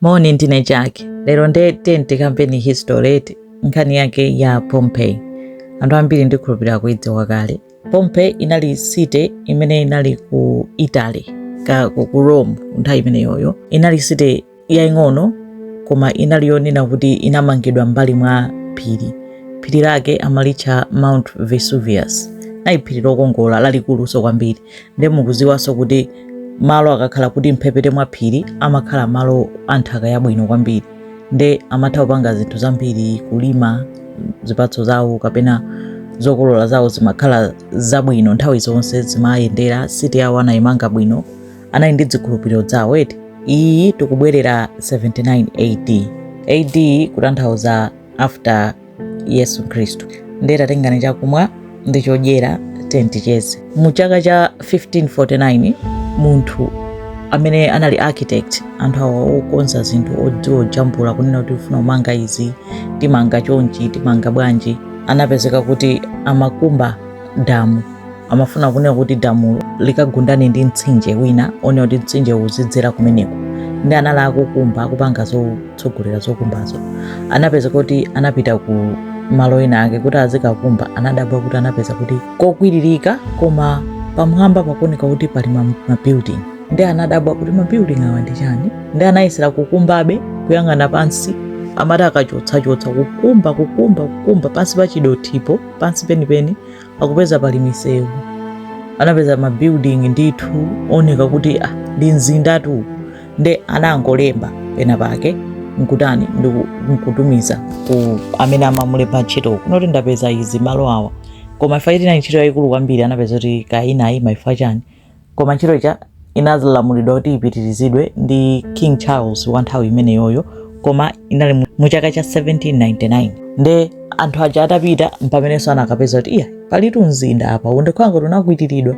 Moni ndine Jack. Lero nde ti tikambepo history eti nkhani yake ya Pompeii. Anthu ambiri ndikhulupirira mukuidziwa kale. Pompeii inali city imene inali ku Italy ka ku ku Rome nthawi imeneyoyo. Inali city yaing'ono koma inali yonena kuti inamangidwa m'mbali mwa phiri. Phiri lake amalitcha Mount Vesuvius. Linali phiri lokongola lalikuluso kwambiri. nde mukuziwaso kuti malo akakhala m'mphepete mwa phiri amakhala malo a nthaka yabwino kwambiri nde amatha kupanga zinthu zambiri kulima zipatso zawo kapena zokolola zawo zimakhala zabwino nthawi zonse zimayendera city yawo anayimanga bwino anali ndi dzikhulupiriro dzawo eti iyi tikubwerera 79 ad ad kutanthauza after yesu khristu ndiye tatengeni chakumwa ndi chodyera ticheze mu chaka cha 1549 munthu amene anali architect anthu awa okonza zinthu odziwa ojambula kunena kuti ufuna kumanga izi timanga chonchi timanga bwanji anapezeka kuti amakumba damu amafuna kunena kuti damulo likagundane ndi mtsinje wina wonena kuti mtsinje uzidzera kumeneko nde anali akukumba akupanga zo tsogolera zokumbazo anapezeka kuti anapita ku malo ena ake kuti azikakumba anadabwa kuti anapeza kuti kokwiririka koma pamwamba pakuoneka kuti pali ma- mabuilding nde anadabwa kuti mabuilding awa ndi chani nde anayesera kukumbabe kuyang'ana pansi amati akachotsachotsa kukumba kukumba kukumba pansi pa chidothipo pansi penipeni akupeza pali misewu anapeza mabuilding ndithu oneka kuti ah, ndi mzindatu nde anangolemba pena pake nkutani nkutumiza ku amene anamulemba ntchito kunena kuti ndapeza izi malo awa koma chifukwa choti inali ntchito yayikulu kwambiri anapezeka kuti kaya inayima chifukwa chani koma ntchito ija inalamulidwa kuti ipitirizidwe ndi king charles wa nthawi imeneyoyo koma inali mu- mu chaka cha 1799 nde anthu aja atapita mpamenenso anakapeza kuti iya palitu mzinda apa unachita ngati unakwiriridwa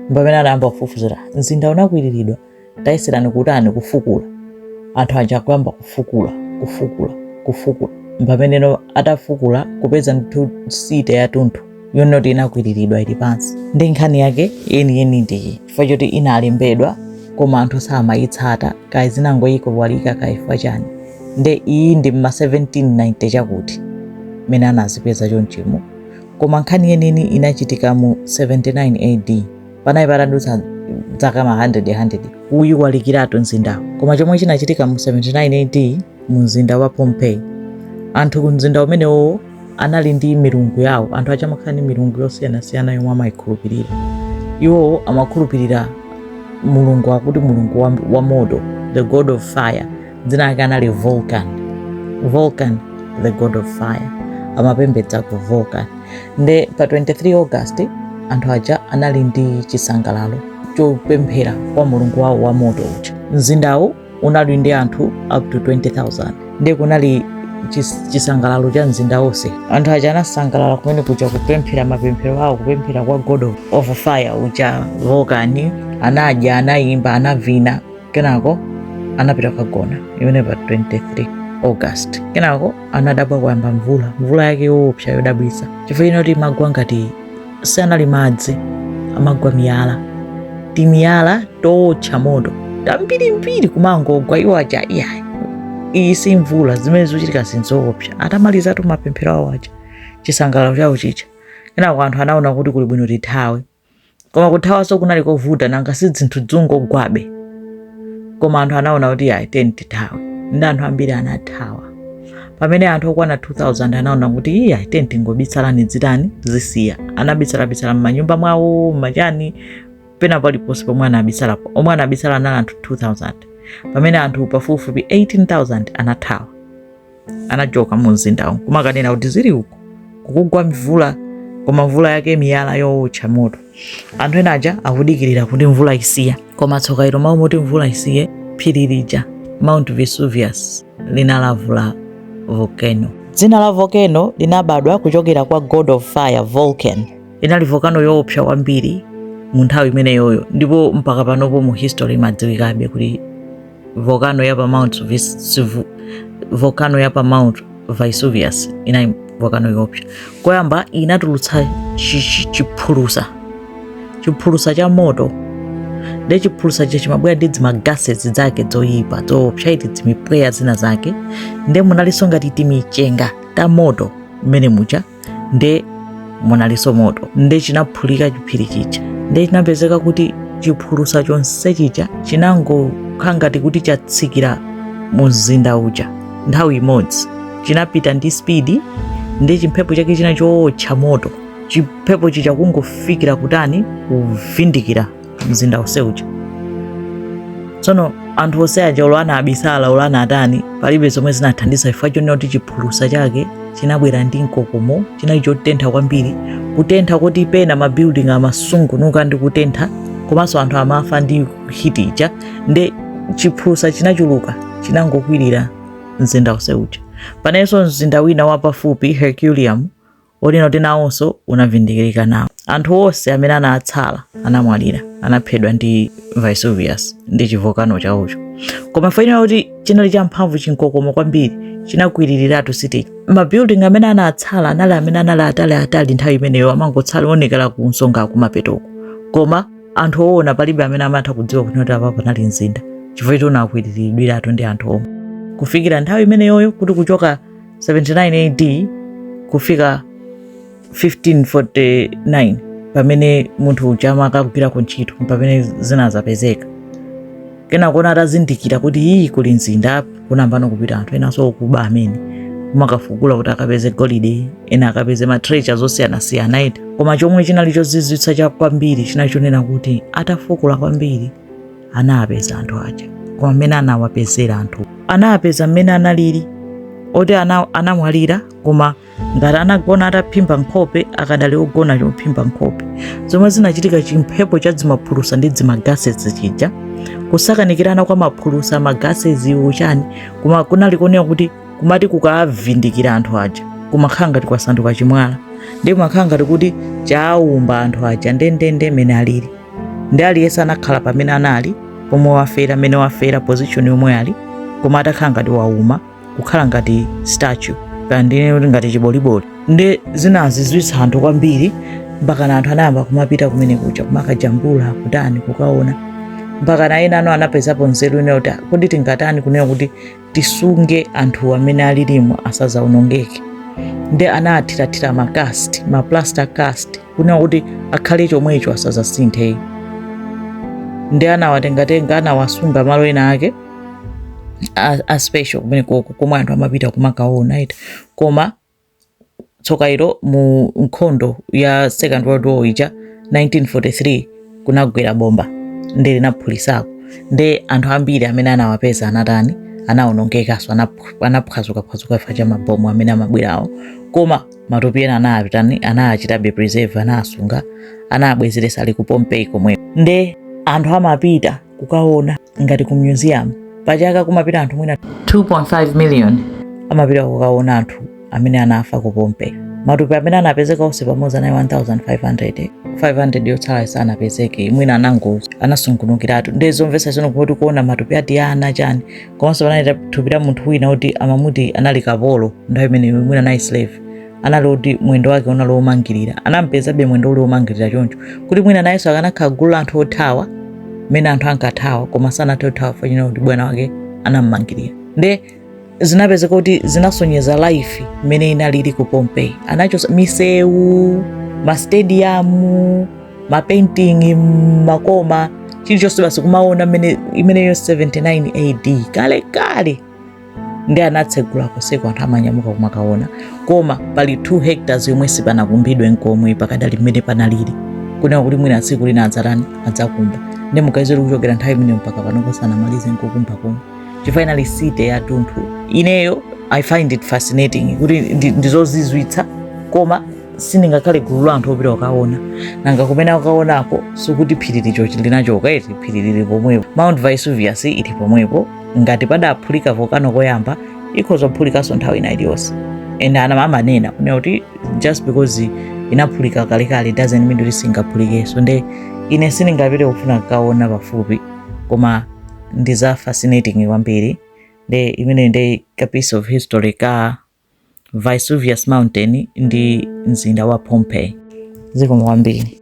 mpamene anayamba kufufuzira mzinda unakwiriridwa tayeserani kutani kufukula anthu aja kuyamba kufukula kufukula kufukula mpameneno atafukula kupeza ndithu city yatunthu yonoti inakwiriridwa ili pansi nde nkhani yake yeniyeni ndiyi chifukwa choti inalembedwa koma anthu samayitsata kaya zinangoyiwalika kaya chifukwa chani nde iyi ndi mma 1790 chakuti mmene anazipeza chonchimo koma nkhani yeniyeni inachitika mu 79 ad panali patadutsa zaka ma 100 100 kuyiwalikiratu mzindawo koma chomwe chinachitika mu 79 AD mu mzinda wa Pompeii anthu ku mzinda umenewo anali ndi milungu yawo anthu aja amakhala ndi milungu yosiyanasiyana yomwe amayikhulupirira iwowo amakhulupirira mulungu wakuti mulungu wa, wa moto the god of fire dzina lake anali vulcan vulcan the god of fire amapembedza ku vulcan nde pa 23 august anthu aja anali ndi chisangalalo chopemphera kwa mulungu wawo wa moto uja mzindawu unali ndi anthu up to 20000 nde kunali chis- chisangalalo cha mzinda wonse anthu aja anasangalala kumene kuja kupemphera mapemphero awo kupemphera kwa god of- of fire uja vulcan anadya anayimba anavina kenako anapita kukagona imene pa 23 august kenako anadabwa kuyamba mvula mvula yake yoopsa yodabwitsa chifukwa inati imagwa ngati sanali madzi amagwa miyala timiyala tootcha moto tambirimbiri kumangogwa iwo aja iyayi iyi si mvula zimene zochitika zinzoopsa atamalizatu mapemphero awo aja chisangalalo chawo chija kenako anthu anaona kuti kuli bwino tithawe koma kuthawanso kunali kovuta nanga si dzinthu dzungogwabe koma anthu anaona kuti ayi teni tithawe ndi anthu ambiri anathawa pamene anthu okwana 2000 anaona kuti iye ayi teni tingobisala zitani zisiya anabisalabisala m'manyumba mwawo m'machani pena paliponse pomwe anabisalapo omwe anabisala anali anthu 2000 pamene anthu pafupifupi 18000 anathawa anachoka mu mzindawo kumakaonera kuti zili uko kukugwa mvula koma mvula yake miyala yowotcha moto anthu ena aja akudikirira kuti mvula isiya koma tsoka ilo m'malo moti mvula isiye phiri lija mount vesuvius linalavula volcano dzina la volcano linabadwa kuchokera kwa god of fire vulcan inali volcano yoopsa kwambiri mu nthawi imeneyoyo ndipo mpaka panopo mu history imadziwikabe kuti volcano ya pa mount Vis- Vu- volcano ya pa mount vesuvius inali volcano yoopsa koyamba inatulutsa chi- chi- chiphulusa chiphulusa cha moto nde chiphulusa chija chimabwera ndi dzimagases zake dzoyipa dzoopsa eti dzimipweya zina zake nde munalinso ngati timichenga ta moto mmene muja nde munalinso moto nde chinaphulika chiphiri chija nde chinapezeka kuti chiphulusa chonse chija chinangokhala ngati kuti chatsikira mu mzinda uja nthawi imodzi chinapita ndi spidi nde chimphepo chake china chowotcha moto chimphepo chija kungofikira kutani kuvindikira mzinda wonse uja tsono anthu onse aja olo anabisala olo anatani palibe zomwe zinathandiza chifukwa chonena kuti chiphulusa chake chinabwera ndi mkokomo chinali chotentha kwambiri kutentha koti pena mabuilding amasungunuka ndi kutentha komanso anthu amafa ndi hiti ija nde chiphulusa chinachuluka chinangokwirira mzinda wonse uja penanso mzinda wina wapafupi herculeum Herculaneum oti nawonso unavindikirika nawo. Anthu onse amene anatsala anamwalira, anaphedwa ndi Vesuvius ndi chivolcano chawocho. Koma faina kuti chinali champhamvu chinkokomo kwambiri chinakwiriratu city. Mabuilding amene anatsala anali amene anali atali nthawi imeneyo amangotsala onekera ku nsonga kumapetoko. Koma anthu owona palibe amene amatha kudziwa kuti apa panali mzinda chifukwa choti unakwiriridwiratu ndi anthu omwe. Kufikira nthawi imeneyoyo kuti kuchoka 79 AD kufika 1549 pamene munthu uja amakagwirako ntchito pamene zinazapezeka kenako atazindikira kuti ii kuli mzinda kunayamba kupita anthu enanso okuba amene kumakafukula kuti akapeze golide ena akapeze matreasures osiyanasiyana eti koma chomwe chinali chozizwitsa cha kwambiri chinali chonena kuti atafukula kwambiri anapeza anthu aja koma mmene anawapezera anthu anapeza mmene analili oti anamwalira koma ngati anagona ataphimba nkhope akadali ogona chophimba nkhope zomwe zinachitika chimphepo cha dzimaphulusa ndi dzimagasezi chija kusakanikirana kwa maphulusa magasezi uchani koma kunali kuoneka kuti kumati kukavindikira anthu aja kumakhala ngati kwasanduka chimwala ndi kumakhala ngati kuti chaumba anthu aja ndendende mene alili ndi aliyense anakhala pamene anali pomwe wafera mmene wafera position yomwe ali koma atakhala ngati wauma kukhala ngati statue kaya ndine kuti ngati chiboliboli ndi zinazizwitsa anthu kwambiri mpakana anthu anayamba kumapita kumene kuja kumakajambula kutani kukaona mpakana ena anapezapo nzeru yonena kuti kodi tingatani kunena kuti tisunge anthu mmene alilimo asazaonongeke nde anaathirathira makasti maplaster cast kunena kuti akhale chomwecho asazasinthe nde anawatengatenga anawasunga malo ena ake a special kumene koko komwe anthu amapita kumakaona eti koma tsokailo mu nkhondo ya second world war ija 1943 kunagwera bomba nde linaphulisako nde anthu ambiri amene anawapeza anatani anawonongekanso anaph- anaphwazukaphwazuka chifukwa cha mabomu amene amabwerawo koma matupi ena anatani anachitabe preserve anasunga anabwezeretsa ali ku Pompeii komwe nde anthu amapita kukaona ngati ku museum pachaka kumapita anthu mwina 2.5 million amapita kukaona anthu amene anafa ku Pompeii matupi amene anapezeka onse pamodzi anali 1500 500 yotsala sanapezeke mwina anangozi anasungunukiratu ndiye zomvetsa chisoni kuti kuona matupi a tiana chani komanso panali thupi la munthu wina oti amamuti anali kapolo nthawi imeneyo mwina anali slave anali kuti mwendo wake unali womangirira anampezabe mwendo uli womangirira choncho kuti mwina nayenso akanakhala gulu la anthu othawa mmene anthu ankathawa koma sanathe kuthawa chifukwa kuti bwana wake anammangirira nde zinapezeka kuti zinasonyeza life mmene inalili ku pompeii anachosa misewu mastadiyamu mapainting makoma chilichonse basi kumaona mmene imeneyo 79 ad kale kale ndi anatsegula konseko anthu amanyamuka kumakaona koma pali 2 hectares yomwe sipanakumbidwe nkomwe pakadali mmene panalili kunena kuti mwina tsiku lina adzatani adzakumba ndi mukayiwona kuchokera nthawi imeneyo mpaka panopa sanamalize nkukumba komwe chinali city ya tunthu ineyo i find it fascinating kuti ndi- ndizozizwitsa koma sindingakhale gulu la anthu opita kukaona nanga kumene kukaonako sikuti phiri lija linachoka eti phiri lili pomwepo mount vesuvius ili pomwepo ngati padaphulika volcano koyamba ikhoza kuphulikanso nthawi ina iliyonse and ana amanena kunena kuti just because inaphulika kalekale doesn't mean kuti singaphulikenso nde ine sindingapite kufuna kukaona pafupi koma ndi za fascinating kwambiri nde imeneyo ndi ka piece of history ka vesuvius mountain ndi mzinda wa pompeii zikomo kwambiri